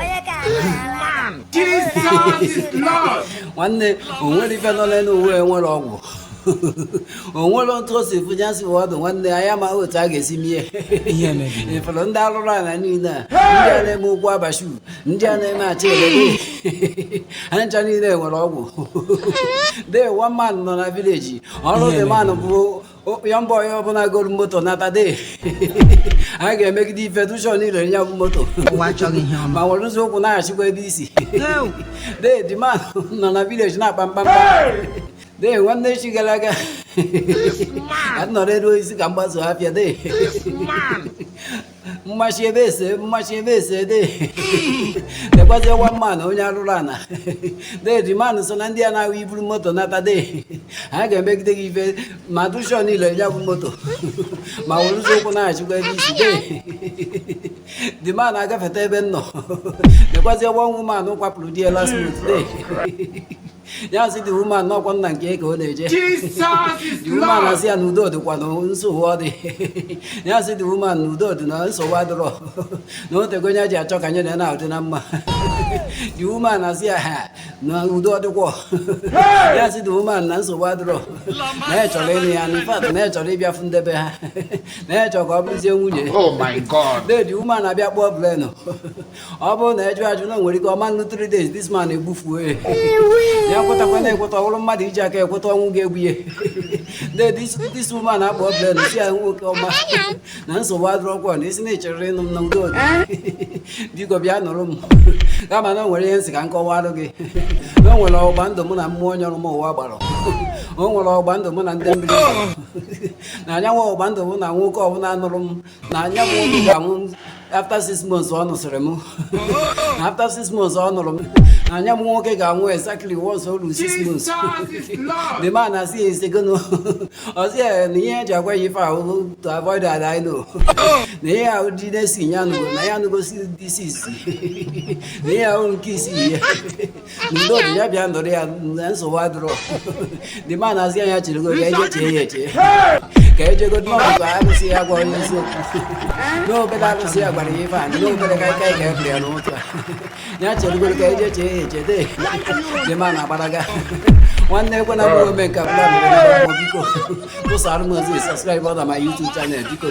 Onye ka a na-ala? Jesus is Lord. nwanne o nwere ife nọ n'elu ụwa nwere ọgwụ o nwere otu o si fụja si wee ọdụ nwanne anyị amaghị otu a ga-esi mee Ihe mebiri. ịfụrụ ndị arụrụ ala niile a ndị a na-eme ụkwụ abashu ndị a na-eme achị elebe ha ncha niile nwere ọgwụ de one man nọ na village ọrụ the man bụ young boy ọbụla goro moto nata de a ga-emegide ife make sure na i ree ya bụ moto ma werezi ụkwụ naghachikwa ebe i si de the man nọ na village na-akpa mkpamkpa de nwanne echi gara aga anọrọ elu osisi ka m gbaso afịa de mmachi ebe ese mmachi ebe ese de nekwazi nwa man nụ onye arụrụ ana de the man nụ so na ndị a na-ahụ i buru moto nata de ha ga-emegide gị ife make sure na i ree ya bụ moto ma werezi ụkwụ naghachikwa ebe i si de the man na-agafeta ebe m nọ nekwazi nwa woman nụ kwapụrụ di ya last month de ya sị the woman n'ọkwa nne kee ka ọ na-eje woman asị ya na udo dịkwa na nsogbu ọ dị ya sị the woman na udo dị na nsogbu adịrọ na o tego nya ji achọ ka nya na ya dị na mma the woman asị ya ha na udo dịkwa ya sị the woman na nsogbu adịrọ na ya chọrọ ịnụ ya na in fact na ya chọrọ ịbịa fụ ndị be ha na ya chọrọ ka ọ bụrụzie nwunye ya de the woman abịa kpọọ brain ọ bụrụ na ya jụ ajụ na o nwere ike ọ ma-anọ 3 days this man egbufuo ya ya kwetakwa na ekweta ọ bụrụ mmadụ iji aka ekweta ọnwụ ga-egbu ya de this woman akpọọ brain sị ya nwoke ọma na nsogbu adịrọkwa na ị sị na ị chọrọ ịnụ m na udo biko bịa nụrụ m kama na o nwere ihe m sị ka m kọwarụ gị na o nwere ọgba ndụ mụ na mmụọ onye nọrọ m ụwa gbara o nwere ọgba ndụ mụ na ndị mmiri na nya bụ ọgba ndụ bụ na nwoke ọbụla nụrụ m na nya bụ nwoke ga-anwụ after six months ọ nụsịrị m na after six months ọ nụrụ m na nya bụ nwoke ga-anwụ exactly once o ruru six months the man asị ya ị sị gịnị ọ sị ya na ihe o ji agwa ya ife a bụ to avoid had I know na ihe ahụ dị na-esi ya anụgo na ya anụgo si di six na ihe a bụ nke isii ya na udo dị ya bịa nụrụ ya na nsogbu adịrọ the man asị ya cherego ka ya jee chee ya eche ka ya jegodu n'okwu arụsị ya gwa nya eziokwu n'obere arụsị ya gwara ya ife a n'obere ka ike ga ebere ya n'ụtụtụ a ya cheregodu ka ya jee chee ya eche dee the man agbaraga nwanne ekwe na bụrụ ome nke ọbụla mere biko tụsara m ozi subscribe na my YouTube channel biko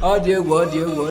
ọ dị egwu ọ dị egwu